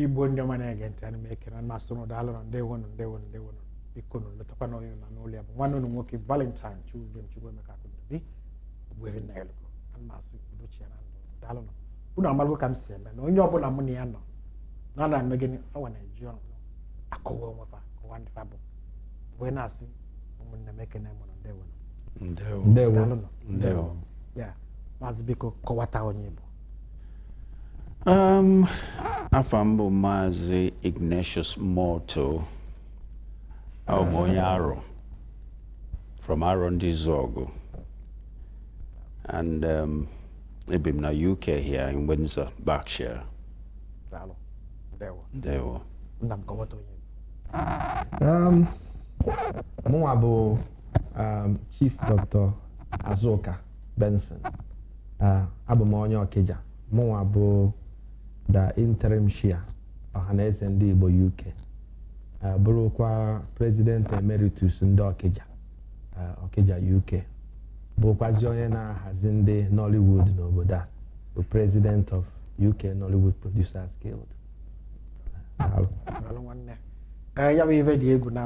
igbo ndị ọma na-ege ntị ana m ekele ma sị ụnụ daalụ na ndewonụ ndewonụ ndewonụ biko nụ lotakwa na onye nọ n'ụlọ ya bụ nwanne ụnụ nwoke valentine chuzie chukwuemeka akụndobi ogbuevi nnanyelugo ana m asị udo chịa na ndụ daalụ nụ unu amalụgo ka m si eme na onye ọbụla mụ na ya nọ na ana eme gịnị fawa na-eji ọnụ akọwa onwe fa kọwa ndị fa bụ wee na-asị ụmụnne m ekene m ụnụ ndewo nụ ndewo ndewo daalụ nụ ndewo ya maazị biko kọwata onye ị bụ Um, afa m bụ maazị ignatius moto abụ m onye arọ from arọndizuọgụ and um, ebi m na uk here in windsor berkshire daalụ ndewo ndewo nna m kọwata onye um, mụnwa bụ um, chief dr azuka benson uh, abụ m onye ọkịja mụnwa bụ the interim chair ọhaneze ndị igbo uk uh, bụrụkwa president emeritus ndị ọkịja Ọkịja UK bụkwazi onye na-ahazi ndị Nollywood n'obodo a bụ president of UK Nollywood Producers Guild eh, ya bụ ife dị egwu na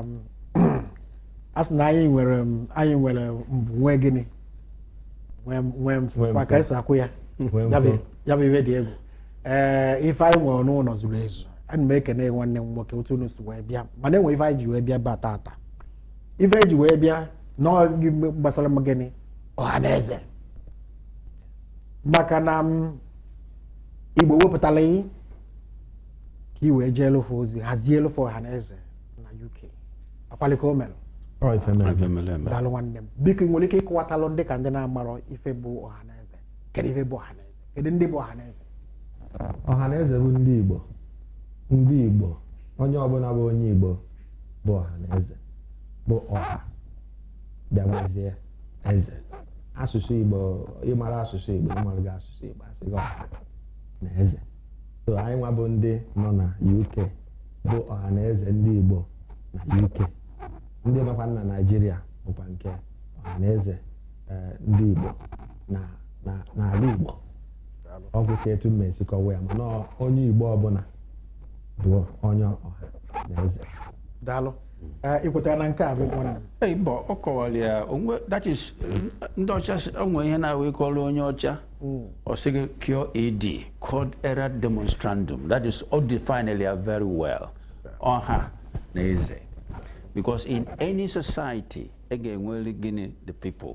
a sị na anyị nwere anyị nwere mbụ nwee gịnị nwee ọfụma ka esi ekwu ya ya bụ ife dị egwu ee eh, ife anyị nwere n'ụlọ zuru ezu ana m ekene nwanne m nwoke otu unu si wee bịa mana enwe ife anyị ji wee bịa eba tata ife eji wee bịa na ọ gbasara maka gịnị ọha na eze maka na m mm, igbo wepụtara gị ka i wee jeelụ fa ozi hazielụ fa ọha na eze na uk akwalika o mere daalụ nwanne m biko ị nwere ike ịkọwatalụ ndị ka ndị na-amarọ ife bụ ọha na eze kedu ife bụ ọha na eze kedu ndị bụ ọhaneze ọhaneze bụ ndị igbo ndị igbo onye ọbụla bụ onye igbo bụ ọhaneze bụ ọha bịawazie eze asụsụ igbo ịmara asụsụ igbo ịmaraghị asụsụ igbo asị gị ọha na eze so anyị nwa bụ ndị nọ na uk bụ ọha na eze ndị igbo na uk ndị nọkwa na naijiria bụkwa nke ọha na eze eh, ndị igbo na na- n'ala Igbo ọ bụ ka etu m si kọwa ya mana ọ- onye Igbo ọbụla bụ onye ọha na eze daalụ Eh, ị kwetara na nke a bụ ịgwọ nna Ee, mba ọ kọwala ya o nwe that is ndị ọcha sị- o nwere ihe na-awụ ị kọọrọ onye ọcha ọ sị gị QED quod erat demonstrandum that is ọ definela ya very well ọha na eze because in any society e ga-enwere gịnị the people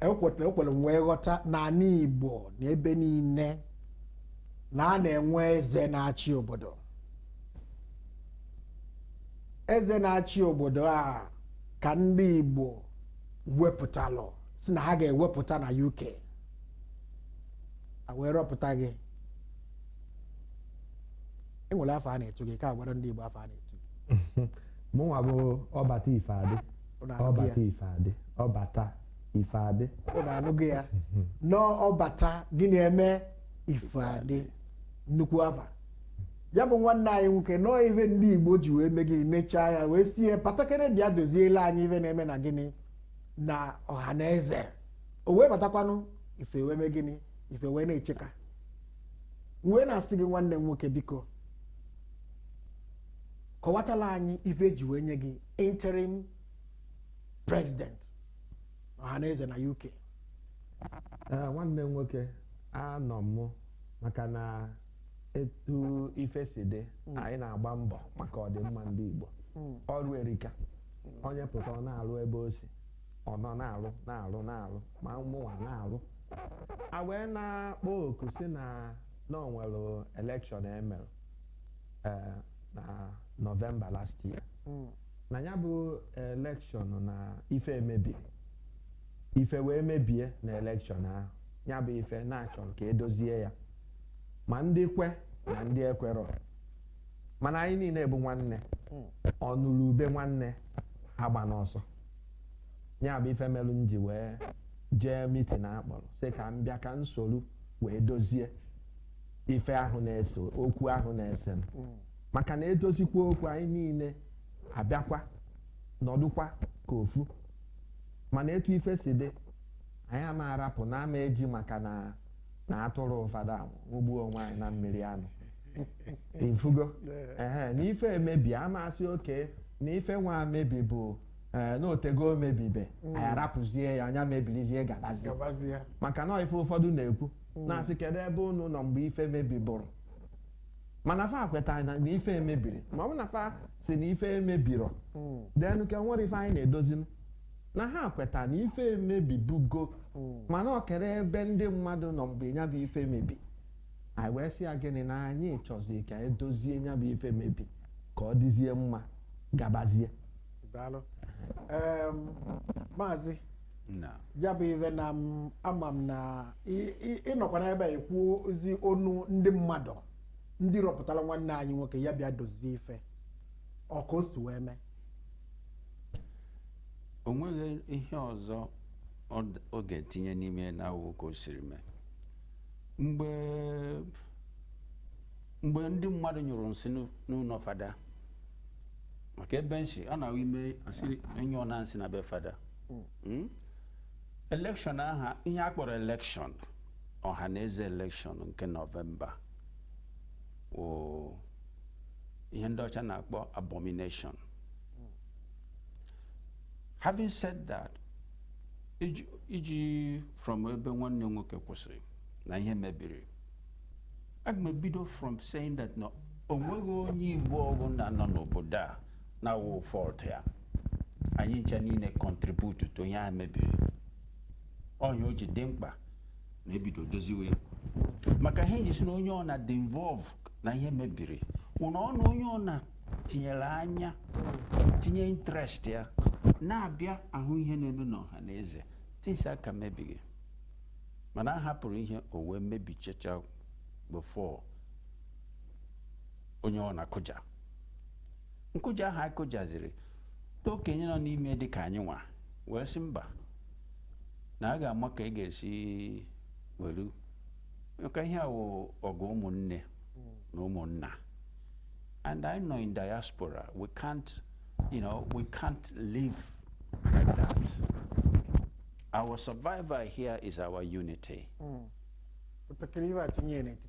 ekweta ekwere m wee ghọta na ana igbo na ebe niile na a na-enwe eze na-achị obodo eze na-achị obodo a ka ndị igbo wepụtalụ sị na ha ga-ewepụta na uk a wee rọpụta gị e nwere afa a na-etu gị ka a gwara ndị igbo afa a na-etu gị mụnwa bụ ọbata ife adị Unu anụgo ya? ọbata ife adị ọbata ife adị unu anụgo ya na ọ bata gịnị emee ife adị nnukwu afa ya bụ nwanne anyị nwoke na ọọ ife ndị igbo ji wee mee gịnị nechaa ya wee sị ya batakene bịa dozielụ anyị ife na-eme na gịnị na ọha na eze o wee batakwanụ ife wee mee gịnị ife wee na-achake m wee na-asị gị nwanne m nwoke biko kọwatalụ anyị ife e ji wee nye gị interim president ọhaneze na uk eh, nwanne m nwoke anọ m maka na etu ife si dị hmm. anyị na-agba mbọ maka ọdịmma ndị igbo hmm. ọrụ erika onye pụta ọ na-alụ ebe o si ọ nọ na-alụ na-alụ na-alụ ma mụnwa na-alụ a wee na-akpọ oku sị na na o nwere elekshọn e mere eh, na nọvemba last year Mm. na ya bụ elekshọn na ife emebiri ife wee mebie na elekshọn ahụ ya bụ ife na a chọrọ ka e dozie ya ma ndị kwe na ndị ekwerọ mana anyị niile bụ nwanne Mm. ọnụrụ ube nwanne agbana ọsọ ya bụ ife melụ m ji wee jee mitin a kpọrọ sị ka m bịa ka m soro wee dozie ife ahụ na-ese okwu ahụ na-ese mm maka na e dozikwaa okwu anyị niile abịakwa nọdụkwa ka ofu mana etu ife si dị anyị ama arapụ na a ma eji maka na na atụrụ ụfọdụ anwụgbuo onwe anyị na mmiri anụ ị fụgo ehe na ife emebi a ma asị okay na ife nwa mebi bụ ee eh, na o tego o mebibe anyị arapụzie ya nya mebirizie gabazie maka na ife ụfọdụ na-ekwu hmm. na-asị kedu ebe unu nọ mgbe ife mebiburu mana fa kwetara na ife emebiri ma ọ bụ na fa sị na ife emebirọ hmm. then ka nwere ife anyị na-edozinu na ha kweta na ife emebibugo hmm. mana ọ kere ebe ndị mmadụ nọ mgbe ya bụ ife mebi anyị wee sị ya gịnị na anyị chọzi ka e dozie ya bụ ife mebi ka ọ dịzie mma gabazie maazị na ya bụ ife na m ama m na ị- ị- ị nọkwa n'ebe a ekwuzi onu ndị mmadụ ndị rọpụtara nwanne anyị nwoke ya bịa dozie ife ọ ka o si wee mee o nweghị ihe ọzọ ọ d- ọ ga-etinye n'ime ya na-awụ ka o siri mee mgbe mgbe ndị mmadụ nyụrụ nsị n'ụ- n'ụlọ fada maka ebe nsị a na-awụ ime a sị ọ nyụọna nsị na be fada Mm? elekshọn aha ihe a kpọrọ elekshọn ọhanaeze elekshọn nke nọvemba wụ ihe ndị ọcha na-akpọ abomination having said that iji- iji from ebe nwanne nwoke kwụsịrị na ihe mebiri aga m ebido from saying that na o nweghị onye igbo ọbụla nọ n'obodo a na-awụ fault ya anyị ncha niile contribute to ihe a mebiri ọ nya o ji dị mkpa na e bido doziwe ya maka ihe m ji sị na onye ọna dị involve na ihe mebiri wụ na ọ na onye ọna tinyere anya tinye interest ya na-abịa ahụ ihe na-eme n'ọhanaeze things aka emebighị mana a hapụrụ ihe o wee mebichacha before onye ọna akụja nkụja ahụ anyị kụjaziri ndị okenye nọ n'ime dị ka anyị nwa wee sị mba na a ga-ama ka a ga-esi welu maka ihe a wụ ọgụ ụmụnne na ụmụnna and anyị nọ in diaspora we can't you know we can't live like that our survival here is our unity. Mm. Utakiri iwe atinye n'etiti.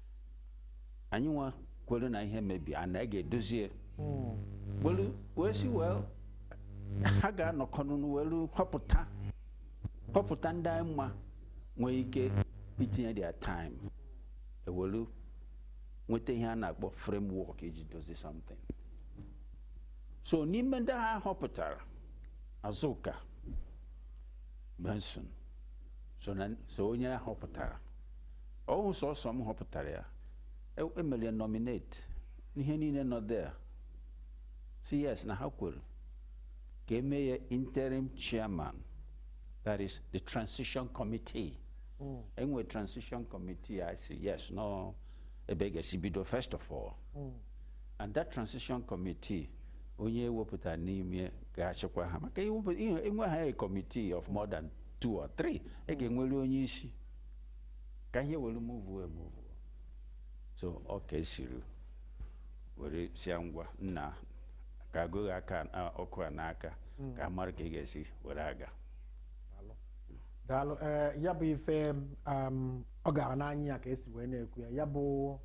anyị nwa kwere na ihe mebi a na a ga-edozie welu wee sị wee ha ga-anọkọ ọnụ welu họpụta họpụta ndị anyị ma nwee ike itinye their time e welu nweta ihe a na-akpọ framework iji dozie something so n'ime ndị ha họpụtara Azụka Benson so na so onye a họpụtara Ọ wụ sọsọ m họpụtara ya. E- Emere ya nominate. Ihe niile nọ there. Sị yes na ha kwere ka eme ya interim chairman. That is the transition committee. Enwe transition committee I say yes no ebe a ga-esi bido first of all. And that transition committee onye ewepụtara n'ime ga-achịkwa ha maka iwepụ- ihe- enwe ha a committee of more than two or three. Ị ga-enwere onye isi. ka ihe were muvuo emuvuo so ọ ka e siri were sị ya ngwa nna ka agụghị aka a- ọkwa a n'aka ka a mara ka a ga-esi were aga daalụ ee ya bụ ife um, ọ gara n'anya ya ka esi wee na-ekwu ya ya bụ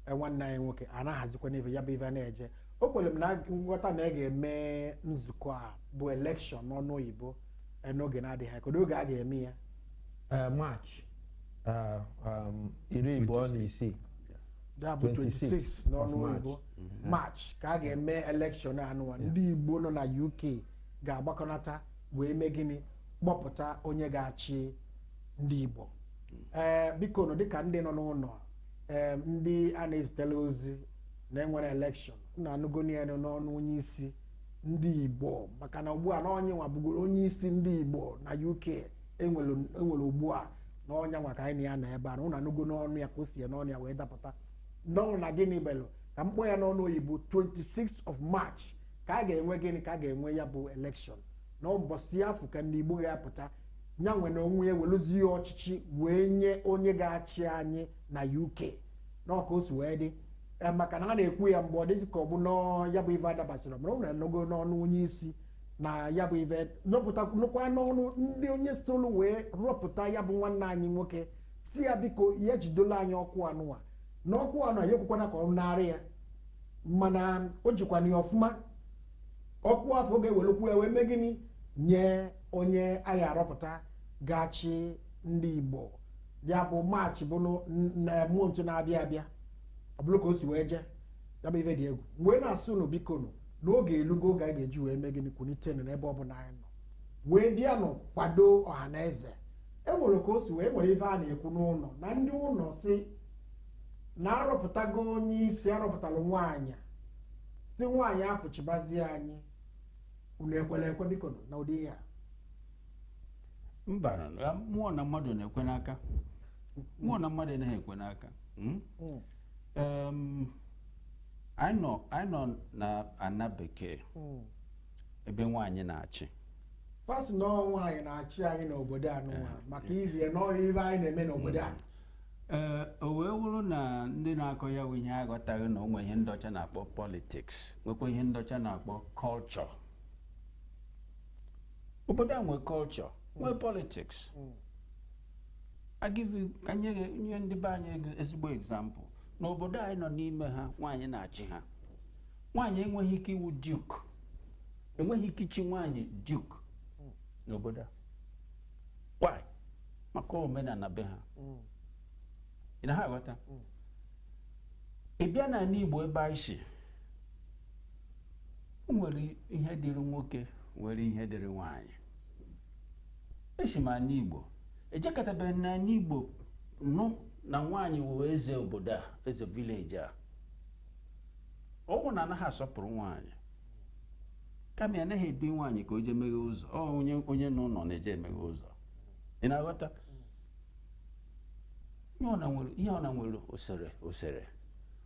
eh, nwanne anyị nwoke a na-ahazikwa n'ife ya bụ ife na-eje o kwere m na nghọta na a ga-eme nzukọ a bụ elekshọn n'ọnụ oyibo eh, n'oge na-adịghị anya kedu oge a ga-eme ya eh, March eh, um, iri abụọ na isii ya bụ 26 n'ọnụ oyibo mm-hmm. March ka a ga-eme elekshọn anụwa ndị Igbo nọ na UK ga-agbakọnata wee mee gịnị kpọpụta onye ga-achị ndị Igbo ee eh, biko nụ dịka ndị nọ n'ụnọ ee ndị a na-ezitela ozi na enwere elekshọn na anụgonụ ya n'ọnụ onye isi ndị Igbo maka na ugbu a na onye nwa bụgoro onye isi ndị Igbo na UK enwere enwere ugbu a na onye nwa ka anyị na ya nọ ebe a na ụnụ anụgo n'ọnụ ya ka o si ya n'ọnụ ya wee dapụta n'ọnụ na gịnị melụ ka m kpọọ ya n'ọnụ oyibo 26 of march ka a ga-enwe gịnị ka a ga-enwe ya bụ election na mbọsị afụ ka ndị igbo ga-apụta ya nwa na onwe ya weluzie ọchịchị wee nye onye ga-achị anyị na uk n'ọ ka o si wee dị Ee, maka na a na-ekwu ya mgbe ọ dịzi ka ọ bụ nọọ ya bụ ife adabasịrọ mana ụnụ anụgo n'ọnụ onye isi na ya bụ ive nyọpụta nụkwa n'ọnụ ndị onye solu wee rọpụta ya bụ nwanne anyị nwoke sị ya biko ya jidola anyị ọkwa anụwa na ọkwa anụ ya ekwekwana ka ọ narị ya mana o jikwana ya ọfụma ọkwa afụ ọ ga-ewelukwa ya wee mee gịnị nye onye a ga-arọpụta ga-achị ndị igbo ya bụ March bụ na month na-abịa abịa ọ bụrụ ka o si wee jee ya bụ ife dị egwu m wee na-asị unu biko nụ na oge elugo oge anyị ga-eji wee mee gịnị kwunite nụ n'ebe ọ bụla anyị nọ wee bịa nụ kwado Ọhaneze e nwere ka o si wee nwere ife a na-ekwu n'ụnọ na ndị ụnọ sị na arọpụtago onye isi arọpụtalụ nwaanyị sị nwaanyị afụ chịbazie anyị unu ekwela ekwe biko nụ na ụdị ihe a mba mmụọ na mmadụ na-ekwe n'aka mmụọ na mmadụ anaghị ekwe n'aka mm? Mm. Um, anyị nọ anyị nọ na ana bekee Mm. ebe nwaanyị na-achị fa sị na ọ nwaanyị na-achị anyị n'obodo anụnwa maka ive na ọ ive anyị na-eme n'obodo a ee o wee wụrụ na ndị na-akọ ya bụ ihe aghọtaghị na o nwe ihe ndị ọcha na-akpọ politics nwekwa ihe ndị ọcha na-akpọ culture obodo a nwe culture nwee politics Mm. I give you ka m nye gị nye ndị be anyị ego- ezigbo example n'obodo anyị nọ n'ime ha nwaanyị na-achị ha nwaanyị enweghị ike ịwụ duke enweghị ike ichi nwaanyị duke n'obodo a why maka omenala be ha ị na ha aghọta ị bịa na ani igbo ebe anyị si o nwere ihe dịrị nwoke nwere ihe dịrị nwaanyị esi m ani igbo ejekatabeghị na ani igbo nụ na nwaanyị wụ eze obodo a eze village a ọwụghị na anaghị asọpụrụ nwaanyị kama na anaghị edu nwaanyị ka o jee meghe ụzọ ọ onye onye nwe ụnọ na-eje emeghe ụzọ ị na-aghọta ihe ọ na nwere ihe ọ na nwere usoro usoro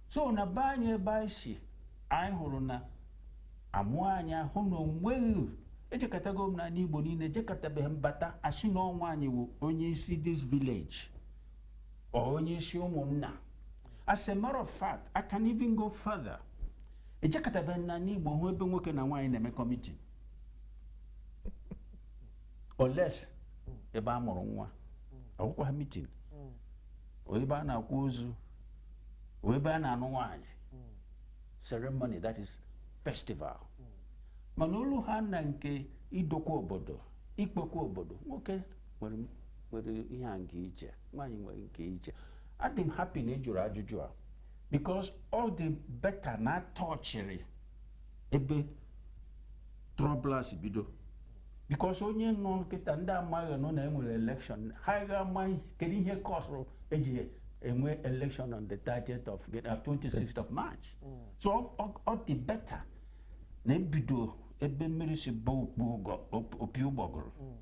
so na be anyị ebe anyị si anyị hụrụ na amụọ anyị ahụ na onweghị ejekatago m n'ani igbo niine ejekatabeghị m bata a sị na ọ nwaanyị wụ onye isi this village or onye isi ụmụnna as a matter of fact i can even go further ejekatabeghị m n'ani igbo hụ ebe nwoke na nwaanyị na-emekọ meeting unless ebe a mụrụ nwa ọwụkwaghị meeting or ebe a na-akwa ozu ebe a na-anụ nwaanyị ceremony that is festival mana o luhaa na nke idokwa obodo ikpekwa obodo nwoke nwere ihe nke iche nwaanyị nwere nke iche adị m happy na ị jụrụ ajụjụ a because ọ dị better na a touchiri ebe trouble a si bido because onye nụ kịtaa ndị mmadụ nụ na e nwere election ha ga ama kedu ihe causeụrụ e ji enwe election on the 30th of 26th uh, of March mm. so ọ dị better na e bido ebe mmiri si baa opi ụgbọgụrụ mm.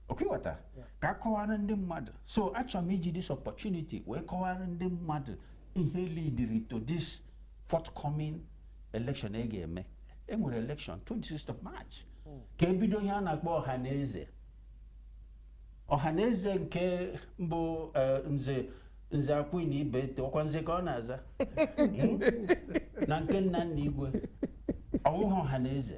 ọ ka ị ghọta ka a kọwara ndị mmadụ so achọrọ m iji this opportunity wee kọwara ndị mmadụ ihe leadiri to this forthcoming election e ga-eme e nwere election 26 of March ka e bido ihe a na-akpọ ọha na eze ọha na eze nke mbụ eh, nze nze akwụghị na ibe ete ọkwa nze ka ọ na-aza Hmm? na nke nna nna igwe ọwụghị ọha na eze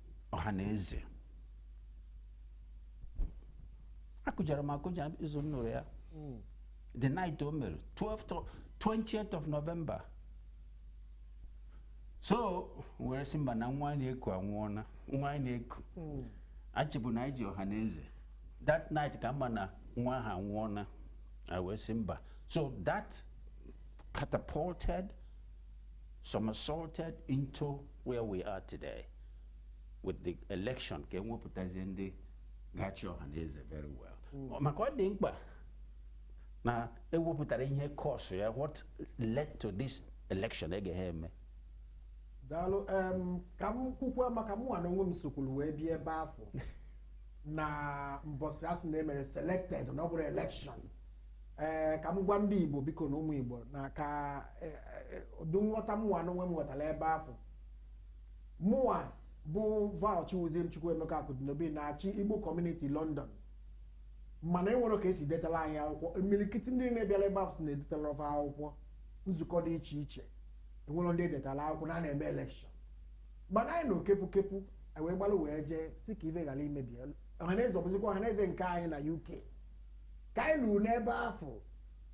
ọha na eze akụjara m akụja izu m nụrụ ya hmm. the night o mere 12 20th of November so were sị mba na nwa anyị na-eku anwụọna nwa anyị na-eku hmm. achịbụ na anyị ji ọha na eze that night ka mma na nwa ha anwụọna a wee sị mba so that catapulted somersaulted into where we are today with the election ka enwepụtazie ndị ga-achị ọha na eze very well hmm. maka ọ dị mkpa na ewepụtara ihe kọsụ ya what led to this election ege ha eme daalụ ka m kwukwa maka mụnwa na onwe m sokwuru wee bịa ebe afụ na mbọsị asị na emere selected na ọ bụrọ election ee ka m gwa ndị igbo biko na ụmụ igbo na ka e, e, ụdị nghọta mụwa n'onwe m ghọtara ebe afụ mụwa bụ val chiwuzie chukwuemeka akụdinobi na-achị igbo kọmuniti london mana enwere ka esi detara anyị akwụkwọ imirikiti ndị na-abịara ebe afụ sị na edetara fa akwụkwọ nzukọ dị iche iche enwere ndị edetara akwụkwọ na a na-eme elekshọn mana anyị na okepụ kepụ wee gbalụ wee jee sị ka ife ghara imebi ọhaneze ọbụzikwa ọhaneze nke anyị na uk ka anyị luru n'ebe afụ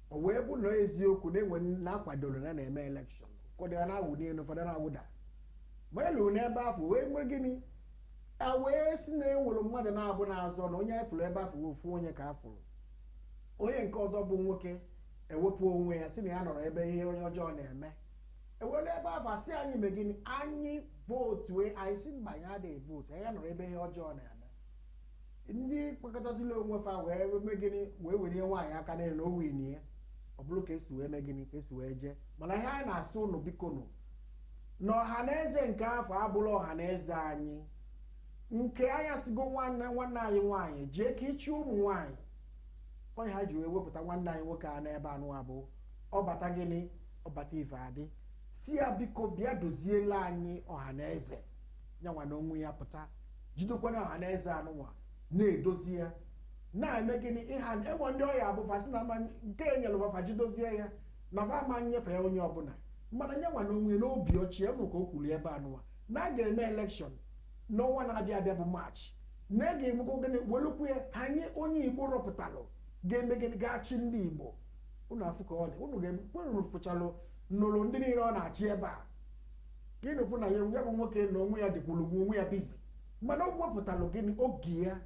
o wee bụ na eziokwu na-enwe na-akwadoro na a na-eme elekshọn ụfọdụ a na-awụ n'elu ụfọdụ na-awụda ma anyị luru n'ebe afụ wee mere gịnị a wee sị na enwere mmadụ naabọ na-azọ na onye anyị fụrụ ebe afụ wee ofu onye ka a fụrụ onye nke ọzọ bụ nwoke ewepụ onwe ya sị na ya anọrọ ebe ihe ọjọọ na-eme e wee n'ebe afụ asị anyị mee gịnị anyị vootu anyị sị mba anyị adịghị vootu anyị anọrọ ebe ihe ọjọọ na-eme ndị kpakọtasịla onwe fa wee mee gịnị wee welie nwaanyị aka n'elu na o winie ọ bụrụ ka esi wee mee gịnị ka esi wee jee mana ihe anyị na-asị ụnụ biko nụ na ọha na eze nke afụ abụrọ ọha na eze anyị nke anyị asịgo nwanne nwanne anyị nwaanyị jee ka ịchị ụmụ nwaanyị onye ha ji wee wepụta nwanne anyị nwoke a n'ebe anụa bụ ọbata gịnị ọbata ife adị sị ya biko bịa doziela anyị ọha na eze nyanwa na onwe ya pụta jidekwana ọha na eze anụnwa na-edozi ya na-eme gịnị ịha enwe ndị ọ ya-abụ fa sị na ama nke enyere fa fa jidozie ya na fa ama enyefe ya onye ọbụla mana nyanwa na onwe ya n'obi ọcha ya nụ ka o kwuru ebe anụnwa na a ga-eme elekshọn n'ọnwa na-abịa abịa bụ maachị na a ga-emekwa gịnị welụkwa ya nye onye igbo rọpụtalụ ga-eme gịnị ga-achị ndị igbo unu afụ ka ọ dị unu ga-ekwe unu fụchalụ nụrụ ndị niile ọ na-achị ebe a ka ị na-ekwu na ya bụ nwoke na onwe ya dịkwuru onwe ya busy mana o wepụtalụ gịnị oge ya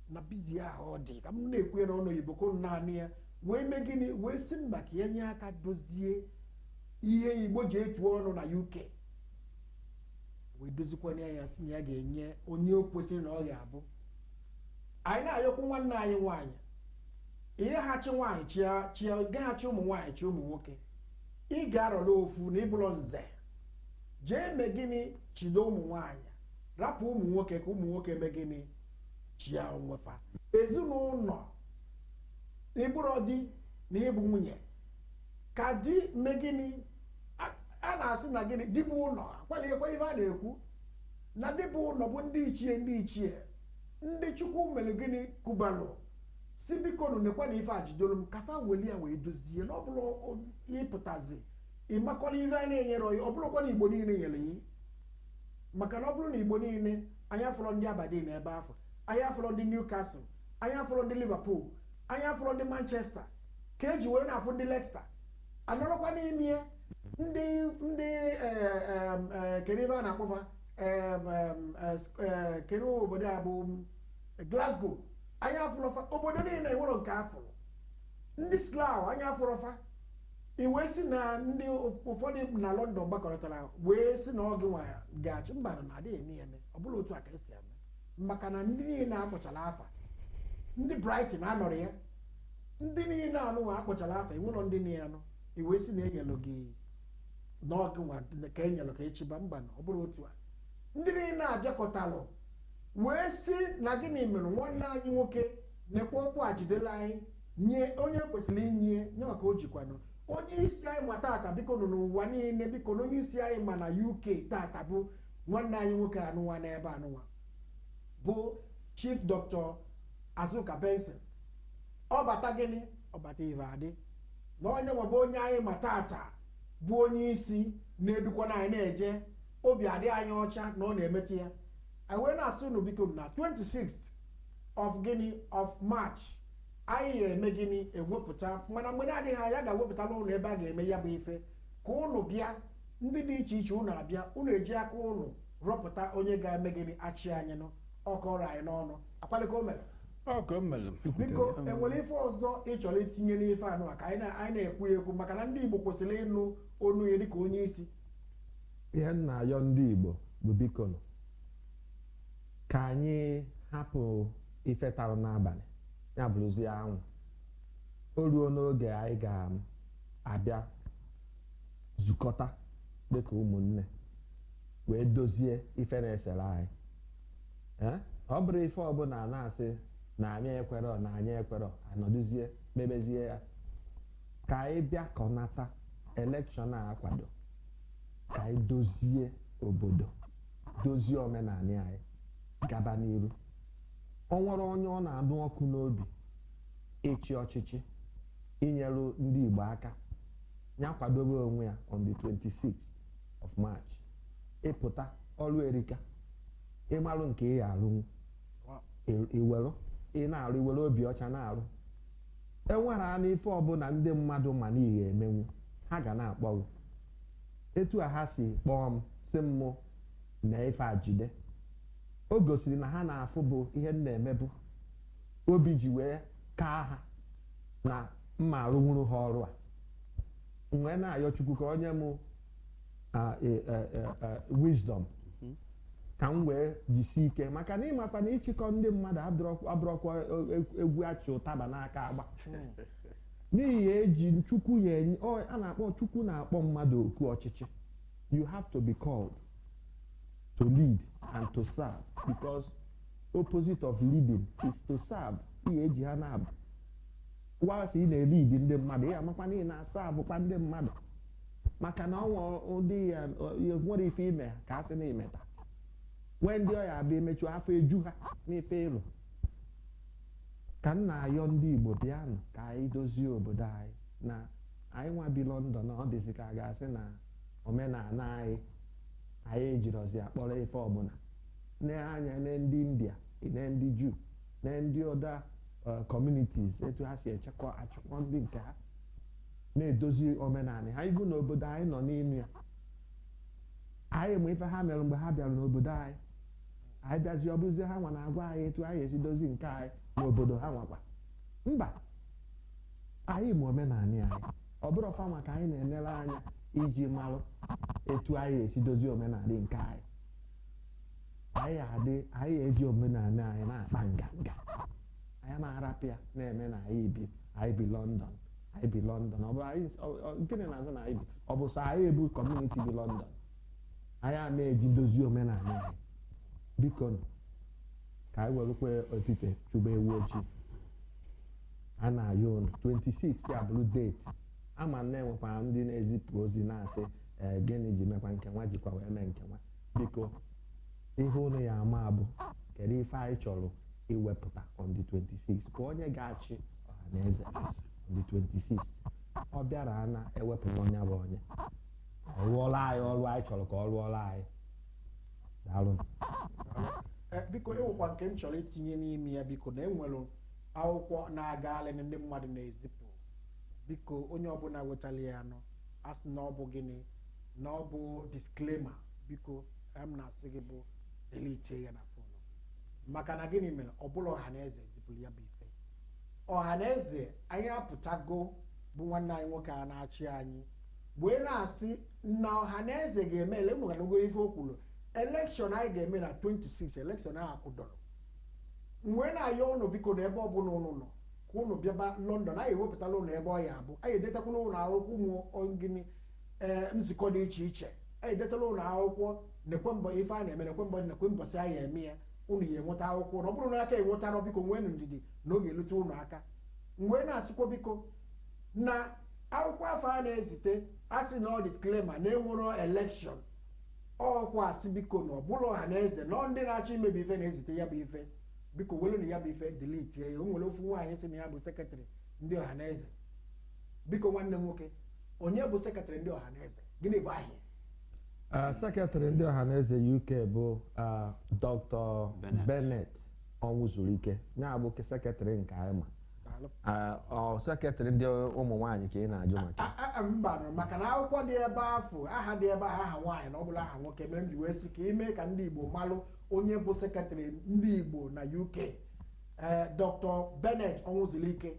na busy ahụ ọ dị ka m na-ekwu ya n'ọnụ oyibo ko naanị ya wee mee gịnị wee sị mba ka ya nye aka dozie ihe igbo ji etu ọnụ na uk wee dozikwanye ya sị na ya ga-enye onye o kwesịrị na ọ ga-abụ anyị na-ayọkwu nwanne anyị nwaanyị ị ga-achị nwaanyị chịa chịa gaghị achị ụmụ nwaanyị chị ụmụ nwoke ị ga-arọlụ ofu na ị bụlụ nze jee me gịnị chịdo ụmụ nwaanyị rapụ ụmụ nwoke ka ụmụ nwoke me gịnị chịa onwe fa ezinụnọ ị bụrụ di na ị bụ nwunye ka di me gịnị a na-asị na gịnị di bụ ụnọ ọ kwalịkwa ife a na-ekwu na di bụ ụnọ bụ ndị ichie ndị ichie ndị chukwu melu gịnị kubalụ sị bikonụ nekwanụ ife a jidolu m ka fa weli ya wee dozie na ọ bụlụ ị pụtazi ị makwanụ ife a na-enyere ọyị ọ bụrọkwa na igbo niile nyere ya maka na ọ bụrụ na igbo niile anyị afụrọ ndị aberdeen ebe afụ anyị afụrọ ndị newcastle anyị afụrọ ndị liverpool anyị afụrọ ndị manchester ka e ji wee na-afụ ndị leicester anọrọkwa n'ime ya ndị ndị kedu ebe a na-akpọ fa kedu obodo a bụ Glasgow anyị afụrọ fa obodo niile o nwerọ nke a fụrụ ndị Slough anyị afụrọ fa i wee sị na ndị ụfọdụ na London gbakọtara wee sị na ọ gị nwa ga-achị mba na a dịghị eme ya eme ọ bụrọ otu a ka e si eme maka na ndị niile a kpọchara afa ndị Brighton anọrọ ya ndị niile anụnwa a kpọchara afa o nwerọ ndị niile anụ i wee sị na e nyelụ gị na ọ gị nwa ka e nyelụ ka ị chịba mba na ọ bụrọ otu a ndị niile abịakọtalụ wee sị na gịnị mere nwanne anyị nwoke nekwa ọkụ a jidelụ anyị nye onye kwesịrị inye nye maka o jikwanụ onye isi anyị ma tata bikonụ ụwa niile bikonụ onye isi anyị ma na uk tata bụ nwanne anyị nwoke anụnwa n'ebe anụnwa bụ chief dr azuka benson ọbata gịnị ọbata ive adị na ọ ya nwa bụ onye anyị ma tata bụ onye isi na-edukwana anyị na-eje obi adị anyị ọcha na ọ na-emeta ya anyị wee na-asị unu biko na 26th of gịnị of march anyị ga-eme gịnị ewepụta mana mgbe na-adịghị anya a ga-ewepụtalụ unu ebe a ga-eme ya bụ ife ka unu bịa ndị dị iche iche unu abịa unu eji aka unu rọpụta onye ga-eme gịnị achị anyị nụ ọkọrọ anyị n'ọnụ ọ kwalị ka o mere ọ ka o mere biko o nwere ife ọzọ ị chọrọ itinye n'ife anụwa ka anyị na- anyị na-ekwu ya ekwu maka na ndị igbo kwesịrị ịnụ onu ya dịka onye isi ihe m na-ayọ ndị Igbo bụ bikonụ ka anyị hapụ ife tarụ n'abalị ya bụrụzie anwụ o ruo n'oge anyị ga-abịa zukọta dịka ụmụnne wee dozie ife na-esere anyị Ee? ọ bụrọ ife ọbụla na-asị na anyị ekwerọ na anyị ekwerọ a nọdụzie mebezie ya ka anyị bịakọnata elekshọn a akwado ka anyị dozie obodo dozie omenala anyị gaba n'iru o nwere onye ọ na-anụ ọkụ n'obi ịchị ọchịchị inyere ndị Igbo aka ya kwadobe onwe ya on the 26th of March ị pụta ọrụ erika ị marụ nke ị ga-arụnwu i were ị na-arụ i were obi ọcha na-arụ enwerenụ ife ọbụla ndị mmadụ ma na ị ga-emenwu ha ga na-akpọ gị etu a ha si kpọọ m sị m mụ na ife a jide o gosiri na ha na-afụbu ihe m na-emebu obi ji wee kaa ha na m ma-arụnwuru ha ọrụ a m wee na-ayọ chukwu ka o nye m e, e, e, wisdom mhm. ka m wee jisi ike maka na ị makwa na ịchịkọ ndị mmadụ abụrọkwa egwu a chị ụtaba n'aka agba n'ihi eji chukwu ya a na-akpọ chukwu na-akpọ mmadụ oku ọchịchị you have to be called to lead and to serve because opposite of leading is to serve ihe eji ha na-abụ wa sị ị na-elidi ndị mmadụ ị ya-amakwa na ị na-asaavụkwa ndị mmadụ maka na o nwe ụdị ya ya nwere ife i me ka a sị na i meta nwee ndị ọ ya-abụ i mechaa afọ eju ha n'ife ị lụ ka m na-ayọ ndị Igbo bịanụ ka anyị dozie obodo anyị na anyị nwa bi London na ọ dịzi ka a ga-asị na omenala anyị anyị ejirọzi ya kpọrọ ife ọbụla nee anya na ndị India na ndị Juu na ndị other communities etu ha si achịkwa ndị nke ha na-edozi omenala ha ibu n'obodo anyị nọ n'ime ya anyị ma ife ha mere mgbe ha bịara n'obodo anyị anyị bịazi ọ bụzie ha nwa na-agwa anyị etu anyị esi dozi nke anyị n'obodo ha nwakwa mba anyị ma omenala anyị ọ bụrọ fa nwa ka anyị na-enere anya iji marụ etu anyị esi dozi omenala nke anyị anyị adị anyị eji omenala anyị na-akpa nganga anyị ma arapụ ya na-eme na anyị bi anyị bi London anyị bi london ọ bụ anyị ọ- ọ- gịnị na-azụ na anyị bi ọ bụ sọ anyị ebu community bi london anyị a na-eji dozie omenala anyị biko nụ, ka anyị werekwa efifie chụba ewu ojii a na-ayọ unu 26 ya bụrụ date ama m na enwekwa ndị na-ezipụ ozi na-asị "Eh, gịnị ji mekwa nke nwa jikwa wee mee nke nwa biko ihe unu ya ama bụ kedu ife anyị chọrọ iwepụta on the 26 ka onye ga-achị ọhaneze on the 26 ọ bịara na ewepụta onye bụ onye ọ rụọla anyị ọrụ anyị chọrọ ka ọ rụọla anyị daalụ Eh, biko enwekwa nke m chọrọ itinye n'ime ya biko na enwere akwụkwọ na-agagharị ndị mmadụ na-ezipụ biko onye ọbụla wetara ya a na-asị na ọ bụ gịnị na ọ bụ disclaimer biko ka m na-asị gị bụ delete ya na phone maka na gịnị mere ọ bụrọ ọhaneze zipụrụ ya bụ ife ọhaneze anyị apụtago bụ nwanna anyị nwoke a na-achị anyị wee na-asị na ọhaneze ga-eme ele- unu anụgo ife o kwuru election anyị ga-eme na 26 election ahụ akwụdoro m wee na-ayọ ụnụ biko na ebe ọbụla ụnụ nọ ka ụnụ bịaba london anyị ewepụtala ụnụ ebe ọ ya abụ anyị edetakwala ụnụ akwụkwọ ụmụ ọ gịnị ee nzukọ dị iche iche anyị edetala ụnụ akwụkwọ nekwe mbọ ife a na-eme nekwe mbọ nekwe mbọsị anyị eme ya unu ya enweta akwụkwọ ọ bụrụ na a ka enwetarọ biko nwee ndidi na ọ ga-elute unu aka m wee na-asịkwa biko na akwụkwọ afụ a na-ezite asị na ọ disclaimer na enwero election ọ kwa asị biko na ọ bụrọ ọhaneze na ndị na-achọ imebi ife na-ezite ya bụ ife biko welu na ya bụ ife delete ya o nwere ofu nwaanyị sị na ya bụ secretary ndị ọhaneze biko nwanne m nwoke onye bụ secretary ndị ọhaneze gịnị bụ aha ya Ah, secretary ndị ọhaneze uk bụ ah, dr Bennett ọnwụzuruike ya bụ ke- secretary nke anyị ma Daalụ. Ah, ọ secretary ndị ụmụ nwaanyị ka ị na-ajụ maka ya. A- a- mba nụ, maka na akwụkwọ dị ebe afụ aha dị ebe ahụ aha nwaanyị na ọ bụrọ aha nwoke mere m ji wee sị ka i mee ka ndị igbo malụ onye bụ secretary ndị igbo na uk ee dr bennett ọnwụzulike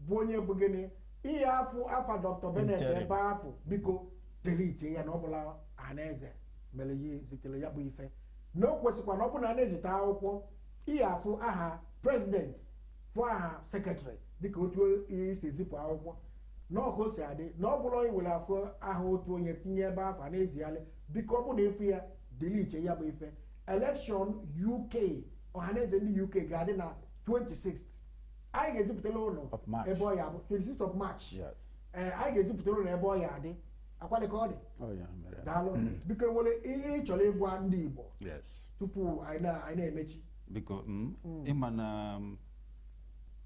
bụ onye bụ gịnị ihe afụ afa dr bennett Interim. ebe afụ biko delete ya na ọ bụrọ ọhaneze mere ya zitere ya bụ ife na o kwesịkwa na ọ bụ na a na-ezite akwụkwọ ị ya afụ aha president fụ aha secretary dịka otu e si ezipụ akwụkwọ na ọ ka o si adị na ọ bụrọ iwere afụ aha otu onye tinye ebe afụ a na-ezigharị biko ọ bụ na ị fụ ya delete ya bụ ife election uk ọhaneze ndị uk ga-adị na 26 anyị ga-ezipụtala unu Of March. ebe ọ ya bụ 26 of march Yes. ee anyị ga-ezipụtara ụlọ ebe ọ ya adị akwalị ka ọ dị Ọ ya mere. daalụ biko nwere ihe ị chọrọ ịgwa ndị igbo Yes. tupu anyị na- anyị na-emechi biko mm, ịma na mm,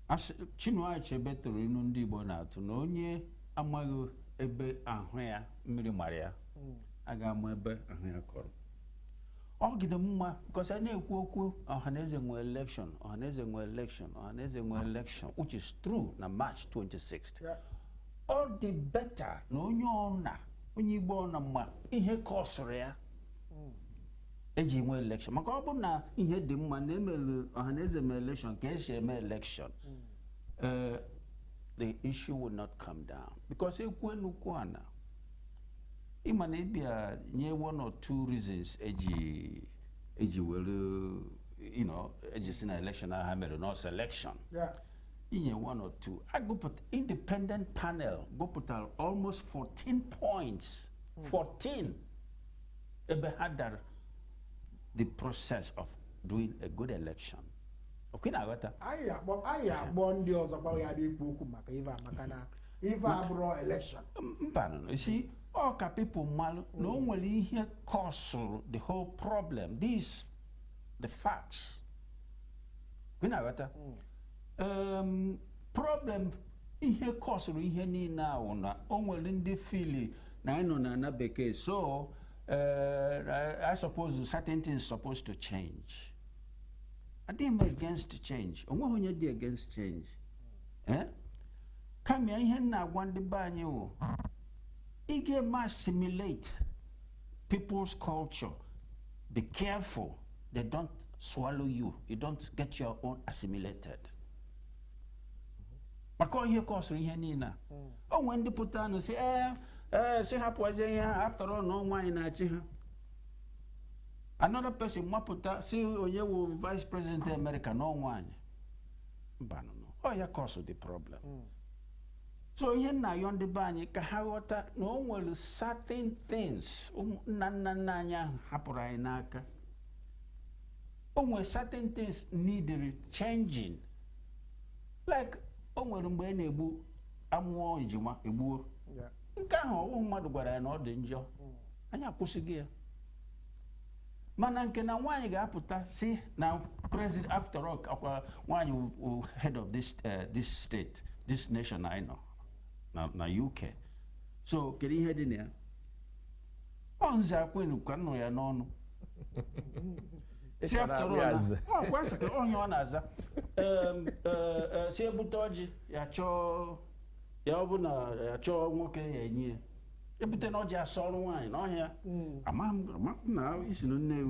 Ash- Chinua Achebe tụrụ inu ndị Igbo na-atụ na onye amaghị ebe ahụ ya mmiri mara ya a ga-ama ebe ahụ ya kọrọ ọ ga-adị mma because a na-ekwu okwu ọhaneze nwe election ọhaneze nwe election ọhaneze nwe election which is true na march 26th Yeah. ọ dị better na onye ọna onye igbo ọna ma ihe kọsụrụ ya eji nwe election maka ọ bụ na ihe dị mma na emere ọhaneze me election ka esi eme election eh, the issue will not come down because ekwue n'okwu a na ịma na ịbịa nye one or two reasons eji eji were you know eji sị na election ahụ ha mere na ọ selection Yeah. inye one or two agụpụta independent panel gụpụtara almost 14 points 14 ebe ha dara the process of doing a good election ọkwa ị na-aghọta anyị akpọ anyị akpọ ndị ọzọ kpọrọ ya bịa ikwu okwu maka ive a maka na ife abụrụ election mbanụ you see ọ ka people malụ na o nwere ihe kọsụrụ the whole problem this the facts ọkwa ị na-aghọta um, problem ihe kọsụrụ ihe niile a wụ na o nwere ndị fili na anyị nọ na ana bekee so uh, I suppose certain things supposed to change adịghị m against change onweghị onye dị against change Eh? kama ihe m na-agwa ndị be anyị wụ ị ga-eme assimilate people's culture be careful they don't swallow you you don't get your own assimilated maka ihe kọsụrụ ihe niile a o nwee ndị pụta nụ sị ee ee sị hapụzie ihe a after all na ọ nwaanyị na-achị ha another person mapụta sị onye wụ vice president of america na ọ nwaanyị mbanụ ọ ya kọsụ the problem so ihe m na-ayọ ndị be anyị ka ha ghọta na o nwere certain things ụmụ- nna nna nna anyị ahụ hapụrụ anyị n'aka o nwere certain things needed changing like o nwere mgbe a na-egbu amụọ ejima egbuo Yeah. nke ahụ ọ wụ mmadụ gwara anyị na ọ dị njọ anyị akwụsịghị ya mana nke na nwaanyị ga-apụta sị na president after all ọkwa nwaanyị head of this eh, this state this nation anyị nọ na UK so kedu ihe dị na ya ọ nze akwenu ka m nụ ya n'ọnụ sị after all kwasị ka onye ọ na-aza eh, eh, sị e bute ọjị ya chọọ ya ọ bụ na ya chọọ nwoke ya enye ya e bute na ọjị asọọrụ nwaanyị n'ọhịa ama m ama m na isi na nne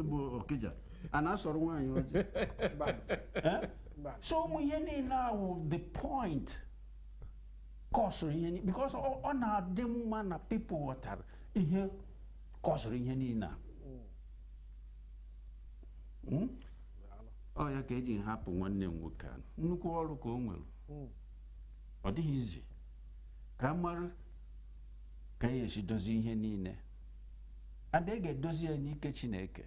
bụ okija a na-asọrọ nwaanyị ọjị Mba, Eh? mba. so ụmụ ihe niile ahụ the point kọsụrụ ihe niile because ọ ọ na-adị mma na people ghọtara ihe kọsụrụ ihe niile a Mm? ọ ya ka e ji hapụ nwanne m nwoke a nnukwu ọrụ ka o nwere Mm. ọ dịghị easy ka a mara ka a ya-esi dozie ihe niile and e ga-edozi ya n'ike chineke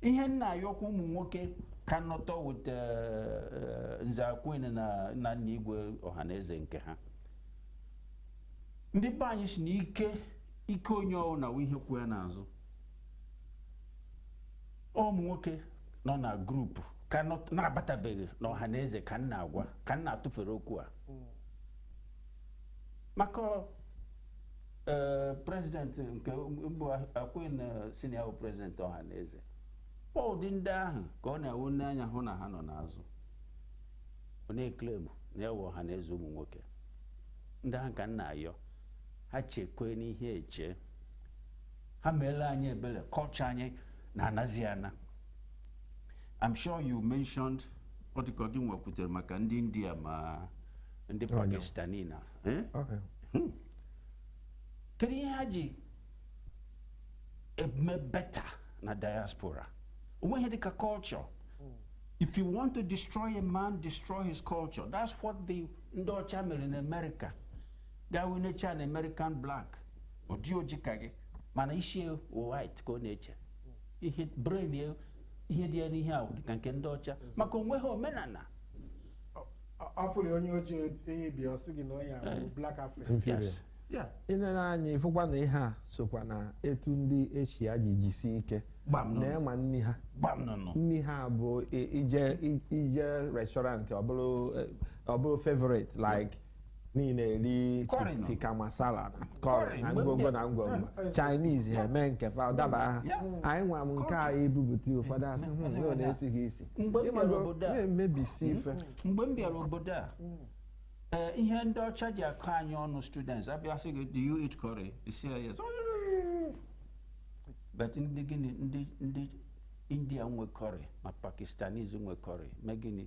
ihe m na-ayọkwa ụmụ nwoke ka nọtọ with eh, nze akwenu na nna igwe ọhaneze nke ha ndị be anyị sị na ike ike onye ọwụna wụ ihe kwụ ya n'azụ ụmụ nwoke nọ na group ka na-abatabeghị na ọhaneze ka m na-agwa ka m na-atụfere okwu a maka ee president nke mbụ akwenu sị na ya wụ president ọhaneze ọ ụdị ndị ahụ ka ọ na-awụ nee anya hụ na ha nọ n'azụ ọ na-eclaim na ya wụ ọhaneze ụmụ nwoke ndị ahụ ka m na-ayọ ha chekwe n'ihe eche ha meere anyị ebere culture anyị na-anazi ana I'm sure you mentioned ọ dịka gịnwa kwutere maka ndị India ma ndị Pakistani na eh? hmm. kedu ihe ha ji eme better na diaspora o nweghị ihe dịka culture if you want to destroy a man destroy his culture that's what the ndị ọcha mere na America gawe na-eche an American black ọ dị oji ka gị mana isi white ka ọ na-eche ihe brain ya ihe dị ya n'ihe ahụ dịka nke ndị ọcha maka o nweghị omenala afụrụ onye ojii enyi bi ọ sị gị na onye ahụ eh. black african Yes. Yeah. ị nere anya ị fụkwa na ihe a sokwa na etu ndị Asia ji jisi ike Gbam nọ. na ị ma nri ha gbam nọ nọ nri ha bụ i- ije i- ije restaurant ọ bụrụ eh, ọ bụrụ favorite like niile eri curry nụ. tikka masala na curry curry nụ. na ngwongwo na ngwongwo Chinese ha eme nke fa ọ daba ha Ya. anyị nwa m nke a ebupụta ụfọdụ asị hụ na ọ na-esi ghị isi Mgbe m bịara Ịmago, obodo a- na-emebisi ife mgbe m bịara obodo a ee, ihe ndị ọcha ji akọ anyị ọnụ students abịa sị gị do you eat curry You say yes but ndị gịnị ndị ndị India nwe curry ma Pakistanis nwe curry ma gịnị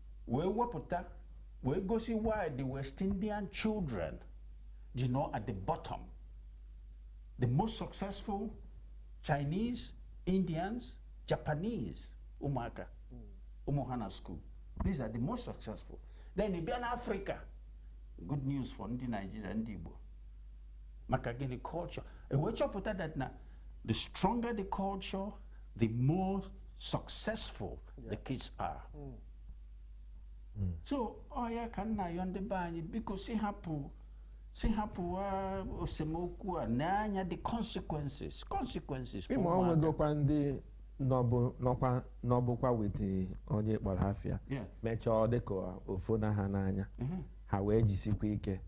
wee wepụta wee gosi why the West Indian children ji nọ at the bottom the most successful Chinese Indians Japanese ụmụaka ụmụ ha na school these are the most successful then ị bịa na Africa good news for ndị Nigeria ndị Igbo maka gịnị culture e wee chọpụta that na the stronger the culture the more successful the kids are. Mm. Mm. so ọ ya ka m na-ayọ ndị be anyị biko si hapụ si hapụ esemokwu a nee anya the consequences consequences for ịma ọ nwegokwa ndị nọkwa nọbukwa with onye ị kpọrọ afa ya mechaa ọ dịka o fona ha n'anya mm-hmm. ha wee jisikwa ike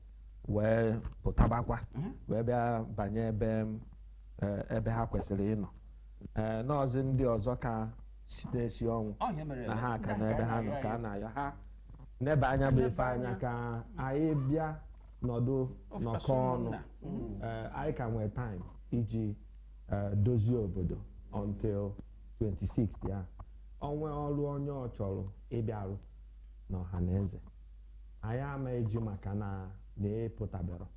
wee pụtabakwa mm-hmm. wee bịa banye ebe eh, ebe ha kwesịrị ịnọ ee nọọzi ndị ọzọ ka si- na-esi ọnwụ Ọ ihe mere na ha ka ndị a n'ebe ha nọ na-arịọ ka a anyị. na-ayọ ha nebe anya bụ ife anya ka anyị bịa nọdụ Of nọkọ course, ọnụ ụmụnna. Ee, anyị ka nwee time iji eh, dozie obodo until 26 ya o nwee ọrụ onye ọ chọrọ ịbịa rụ n'Ọhaneze anyị ama eji maka na na ị pụtabero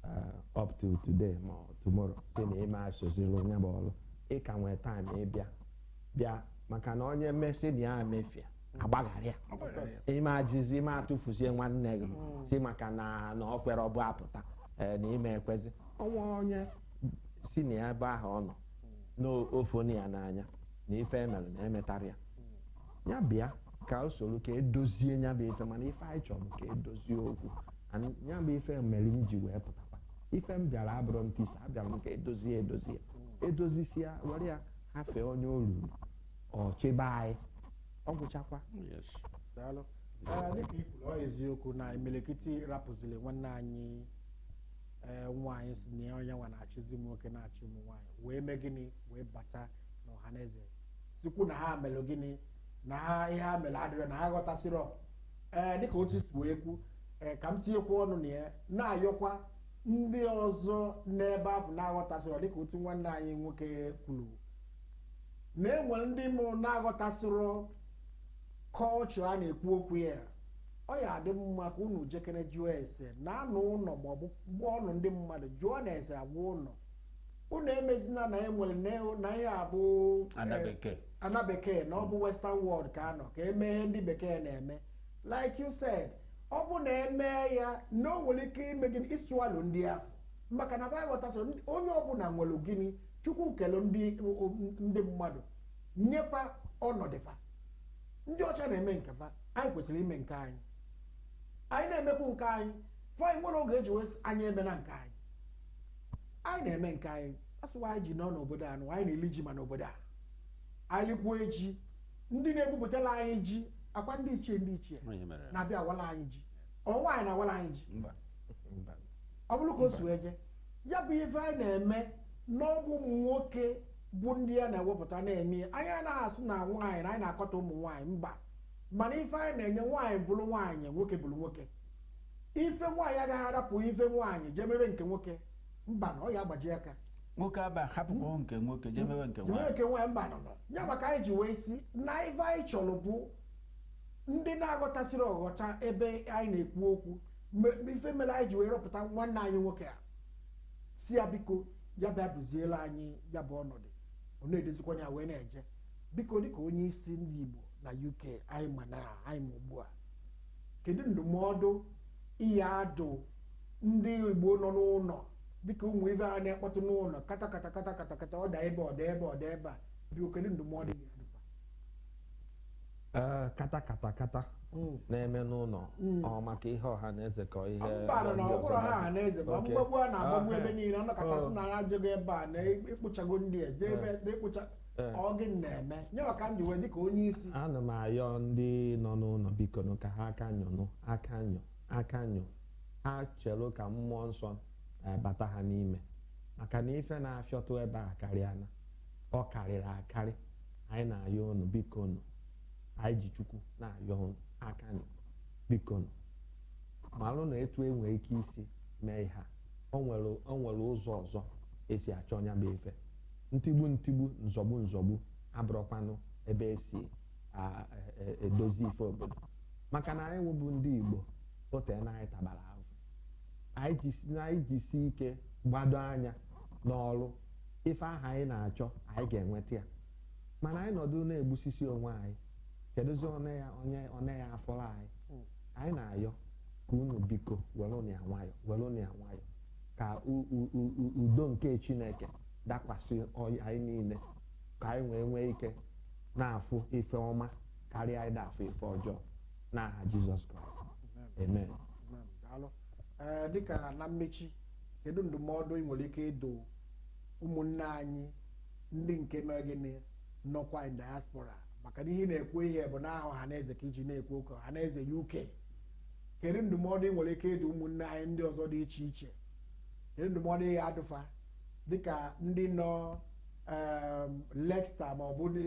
uh, up to today ma ọ tomorrow si na ị ma esoziri anyị gba ọrụ ị ka nwee time ịbịa bịa maka na onye me sị na ya emefie a gbaghara ya ị ma ejizi ị ma atụfuzi nwanne gị si maka na na o kwerọbu apụta eh, na ị ma ekwezi ọnwa onye si na ya ebe ahụ ọ nọ na o fona ya n'anya na ife e mere na e metara ya ya bịa ka o soro ka edozie ya bụ ife mana ife anyị chọrọ ka edozie okwu nya bụ ife mere m ji wee pụtakwa ife m bịara abụrọ ntisa abịara m ka edozie edozie edozisia were ya hafee onye o ruru ọ chịba anyị ọ gwụchakwa Yes. daalụ Ee, dịka i kwuru, ọ eziokwu na imirikiti rapụziri nwanne anyị ee, nwaanyị si na ya onye nwa na-achịzi ụmụ nwoke na-achị ụmụ nwaanyị wee mee gịnị wee bata n'Ọhaneze sikwu na ha melụ gịnị na ha ihe ha mere adịrọ na ha aghọtasịrọ ee dịka otu si wee kwu ee ka m tinyekwa ọnụ na ya na-ayọkwa ndị ọzọ n'ebe ahụ na-aghọtasịrọ dịka otu nwanne anyị nwoke kwuru na enwere ndị nụ na-aghọtasịrọ culture a na-ekwu okwu ya ọ ya adị mma ka unu jekene jụọ ese na anụ ụlọ maọbụ gwa ọnụ ndị mmadụ jụọ na ese agwa ụlọ unu emezina na enwere na- na ihe a bụ ana bekee na ọ bụ western world ka a nọ ka eme ihe ndị bekee na-eme like you said ọ bụ na e mee ya na o nwere ike ime gịnị ịsụalụ ndị afụ maka na va aghọtasị onye ọbụla nwere gịnị chukwu kelu ndị ndị mmadụ nye fa ọnọdụ fa ndị ọcha na-eme nke fa anyị kwesịrị ime nke anyị anyị na-emekwu nke anyị fa nwere oge e ji wee sị, anyị emena nke anyị anyị na-eme nke anyị a sị wa anyị ji nọ n'obodo a nụ anyị na-eli ji ma n'obodo a anyị likwuo ji ndị na-ebupụtala anyị ji ọ kwa ndị ichie ndị ichie na-abịa awala anyị ji ọ nwaanyị na-awala anyị ji Mba. Mba. ọ bụrụ ka o si wee je ya bụ ife anyị na-eme na ọ bụ ụmụ nwoke bụ ndị ya na-ewepụta na-eme ya. anyị anaghị asị na nwaanyị na anyị na-akọta ụmụ nwaanyị mba mana ife anyị na-enye nwaanyị bụrụ nwaanyị nwoke bụrụ nwoke ife nwaanyị agaghị arapụ ife nwaanyị jee mebe nke nwoke mba na ọ ya agbaji aka nwoke ama hapụkwa nke nwoke jee mebe nke nwaanyị nke nwaanyị mba na ọ ya maka anyị ji wee sị na ife anyị chọrọ bụ ndị na-aghọtasịrị aghọta ebe anyị na-ekwu okwu ife mere anyị ji wee rọpụta nwanne anyị nwoke a sị ya biko ya bịa duziela anyị ya bụ ọnọdụ ọ na-edozikwa ya wee na-eje biko dịka onye isi ndị Igbo na UK anyị ma na anyị ma ugbu a kedu ndụmọdụ ị ya-adụ ndị Igbo nọ n'ụlọ dịka ụmụ ife a na-ekpọtụ n'ụlọ kata kata kata kata kata ọ daa ebe a ọ daa ebe a ọ daa ebe a biko kedu ndụmọdụ ị ya-adụ fa ee kata kata kata Mm. na-eme n'ụlọ Mm. ọ maka ihe ọha na eze ka ihe mba na ọ bụrọ ọha na eze ma Okay. mgbagbu a na-agbagbu Ah, ebe eh. niile ọ nọkata sị na ha ajụghị ebe a na ekpochago ndị a jee ebe na-ekpocha Ee. ọ gịnị na-eme ya ka m ji wee dị ka onye isi ana m ayọ ndị nọ n'ụlọ biko nụ ka ha aka nyọnụ aka nyọ aka nyọ ha chelụ ka mmụọ nsọ eh, bata ha n'ime maka na ife na-afịọtụ ebe a akarịana ọ karịrị akarị anyị na-ayọ unu biko nụ anyị ji chukwu na-ayọ unu aka nyọ biko nụ malụ na etu e nwee ike isi mee ihe a o nwere o nwere ụzọ ọzọ e si achọ ya bụ ife ntigbu ntigbu nzọgbu nzọgbu abụrụkwanụ ebe e si edozi ife obodo maka na anyị nwa bụ ndị Igbo ote na anyị tabara ahụ anyị jisi ike gbado anya n'ọrụ ife ahụ anyị na-achọ anyị ga-enweta ya mana anyị nọdụ na-egbusisi onwe anyị kedụzi onye ya-afọrọ anyị hmm. anyị na-ayọ ka unu biko werenụ ya nwayọ were ya nwayọ ka udo nke Chineke dakwasị anyị niile ka anyị wee nwee ike na-afụ ife ọma karịa anyị na-afụ ife ọjọọ n'aha Jizọs Kraịst amen Amen. Daalụ. Ee, dịka na mmechi kedu ndụmọdụ ị nwere ike ịdụ ụmụnne anyị ndị nke mere gịnị nọkwa in diaspora maka na ihe ị na-ekwu ihe bụ n'aha Ọhaneze ka i ji na-ekwu okwu Ọhaneze UK kedu ndụmọdụ ị nwere ike ịdụ ụmụnne anyị ndị ọzọ dị iche iche kedu ndụmọdụ ị ga-adụ fa dịka ndị nọ em, Leicester ma ọ bụ ndị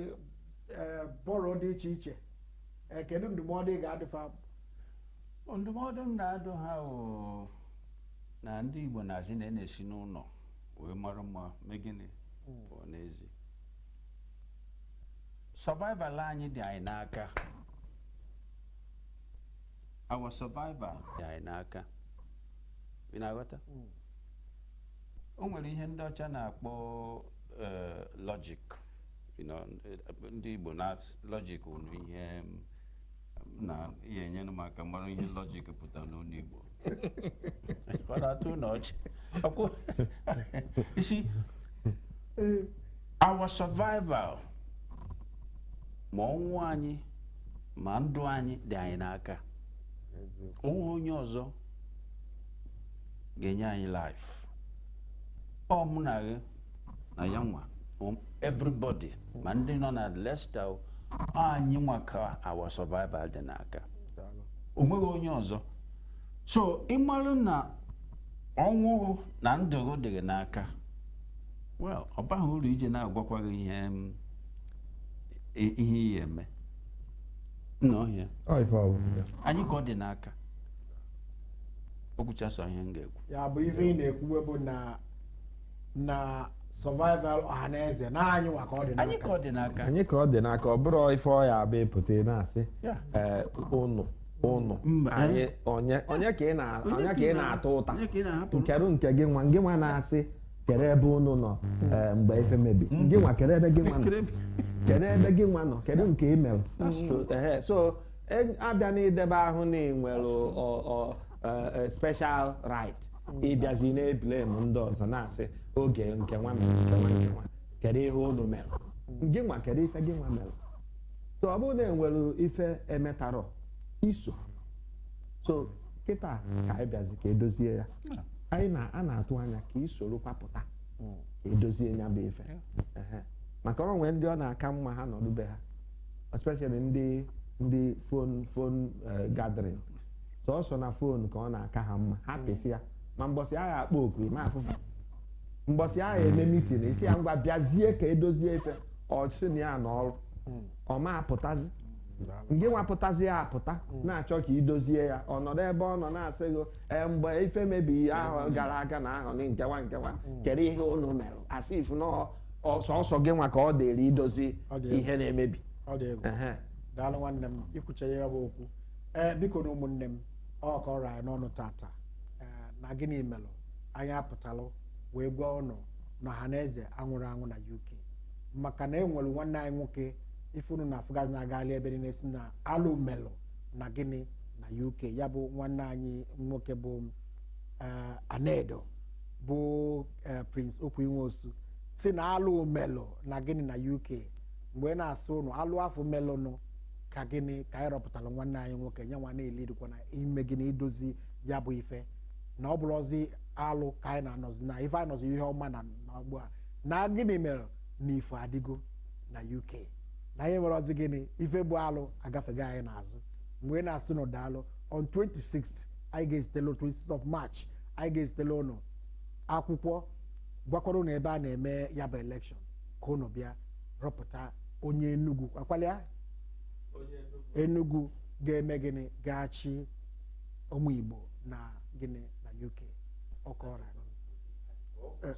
eh, borough dị iche iche Eh, kedu ndụmọdụ ị ga-adụ fa ndụmọdụ m na-adụ ha bụ na ndị Igbo na-asị na a na-esi n'ụlọ wee mara mma mee gịnị pụọ n'ezi survival anyị dị anyị n'aka our survival dị anyị n'aka ị na-aghọta o nwere ihe ndị ọcha na-akpọ eh, logic you know, eh, ndị Igbo na logic unu ihe mm, na ya-enyere m aka mara ihe logic pụtara n'olu Igbo ka ọ na-atọ unu ọchị Ọkwụ- You see, our survival ma ọnwụ anyị ma ndụ anyị dị anyị n'aka o nweghị onye ọzọ ga-enye anyị life ọ mụ na gị na ya nwa everybody ma ndị nọ na Leicester anyị nwa ka our survival dị n'aka o nweghị onye ọzọ so ị marụ na ọnwụ na ndụ gị dị gị n'aka well ọ baghị uru ije na-agwakwa gị ihe ihe ị ya-eme nnọọ ihe a anyị ka ọ dị n'aka o kwuchasịwo ihe m ga-ekwu ya bụ ife ị na-ekwuwe bụ na na survival Ọhaneze na anyị nwa ka ọ dị n'aka anyị ka ọ dị n'aka anyị ka ọ dị n'aka ọ bụrụ ife ọ ya-abụ ị pụta ị na-asị Ya. ee, ụnụ ụnụ Mba. anyị onye onye ka ị na- onye ka ị na-ata ụta Onye ka ị na-ahapụ? kedu nke gị nwa gị nwa na-asị kedu ebe ụnụ nọ ee, mgbe ife mebi gị nwa kedu ebe gị nwa nọ Kedu ebe- kedu ebe gị nwa nọ kedu nke ị mere Ehe, so E- abịa n'idebe ahụ na ị nwere ọ- ọ- ọ- eh, special right ịbịazi na-eblame ndị ọzọ na-asị oge nke nwa mere nke nwa nke nwa kedu ihe unu mere gị nwa kedu ife gị nwa mere so ọ bụrụ na enwere ife emetarọ iso so kịta ka anyị bịazi ka edozie ya anyị na a na-atụ anya ka i sorokwa pụta ka edozie ya bụ ife Ehe. maka ọ nwee ndị ọ na-aka mma ha nọdụbe ha especially ndị ndị phone phone eh, gathering sọsọ na phone ka ọ na-aka ha mma ha pịsịa ma mbọsị a ga-akpọ oku ma afụ fa mbọsị a ga-eme meeting ị sị ya ngwa bịazie ka edozie ife ọ sị na ya nọ ọrụ ọ ma apụtazi ngị nwa pụtazia apụta na-achọ ka idozie ya ọ nọdụ ebe ọ nọ na-asị gị "Ee, mgbe ife mebiri ahụ gara aga na ahụ gị nke nwa nke nwa kedu ihe unu mere a sị ị fụ na ọ sọsọ gị nwa ka ọ dịrị idozi ihe na-emebi ọ dị egwu daalụ nwanne m ikwuche ya bụ okwu ee biko na ụmụnne m ọ kọrọ anyị n'ọnụ tata na gịnị melụ anyị apụtalụ wee gwa ụnụ na Ọhaneze anwụrọ anwụ na UK maka na e nwere nwanne anyị nwoke ife ụnụ na-afụgasị na-agali ebe niile sị na alụ melụ na gịnị na UK ya bụ nwanne anyị nwoke bụ eh, Anedo bụ eh, Prince Okwy Nwosu sị na alụ melụ na gịnị na UK m wee na-asị ụnụ alụ afụ melụnụ ka gịnị ka anyị rọpụtara nwanne anyị nwoke nye nwa na-elidikwa na ime gịnị idozi ya bụ ife na ọ bụrọzi alụ ka anyị na-anọzi na ife anyị nọzi ihe ọma na na ugbu a na gịnị mere na ife adịgo na UK na anyị enwerọzi gịnị ife bụ alụ agafego anyị n'azụ m wee na-asị ụnụ daalụ on 26th anyị ga-ezitela on 26th of March anyị ga-ezitela ụnụ akwụkwọ gwakwara ụnụ ebe a na-eme ya bụ election ka ụnụ bịa rọpụta onye enugu akwala ya onye Enugu enugu ga-eme gịnị ga-achị ụmụ Igbo na gịnị na UK ọkọra ọ kwụsịrị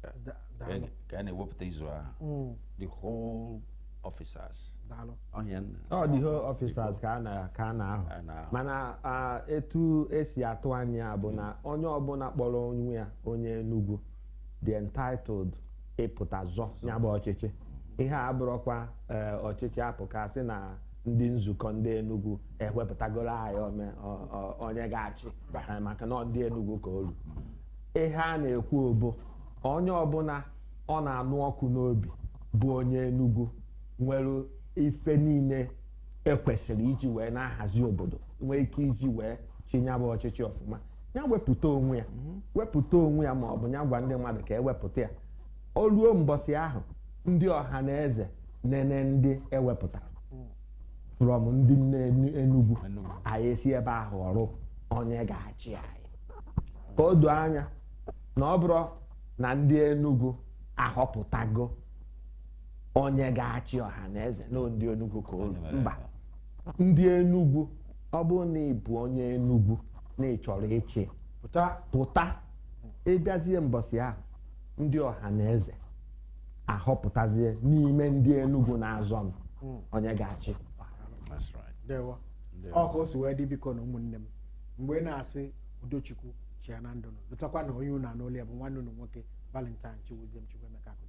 president. daalụ ka a na-ewepụta izu ahụ Mm, the whole officers daalụ ọhịa nna ọ the whole officers ka a na- ka a na-ahọ A na-ahọ. mana ah, etu esi atụ anya ya bụ na onye ọbụla kpọrọ onwe ya onye Enugu dị entitled ịpụta zọ ya bụ ọchịchị ihe a abụrọkwa eh, ọchịchị afụ ka sị na ndị nzukọ ndị Enugu ewepụtagoro anyị ome- ọ- ọ- onye ga-achị Eh, maka na ọ ndị Enugu ka o lu ihe a na-ekwu bụ onye ọbụla ọ na-anụ ọkụ n'obi bụ onye Enugu nwere ife niile ekwesịrị iji wee na-ahazi obodo nwee ike iji wee chịa nya bụ ọchịchị ọfụma ya wepụta onwe ya ma ọ bụ ya gwa ndị mmadụ ka e wepụta ya o ruo mbọsị ahụ ndị Ọhaneze nene ndị e wepụtara from ndị Enugu anyị esi ebe ahụ họrọ onye ga-achị anyị ka o doo anya na ọ bụrụ na ndị Enugu ahọpụtago onye ga-achị Ọhaneze na ndị Enugu ka o lu mba ndị Enugu ọ bụrụ na ị bụ onye Enugu na ị chọrọ ịchị pụta ị bịazie mbọsị ahụ ndị Ọhaneze ahọpụtazie n'ime ndị Enugu na-azọ mm onye ga-achị ọ ka o si wee dị bikonụ ụmụnne m mgbe m na-asị udo Chukwu chịa na ndụ unu lotakwa na onye unu na-anụ olu ya bụ nwanne unu nwoke Valentine Chiwuzie Chukwuemeka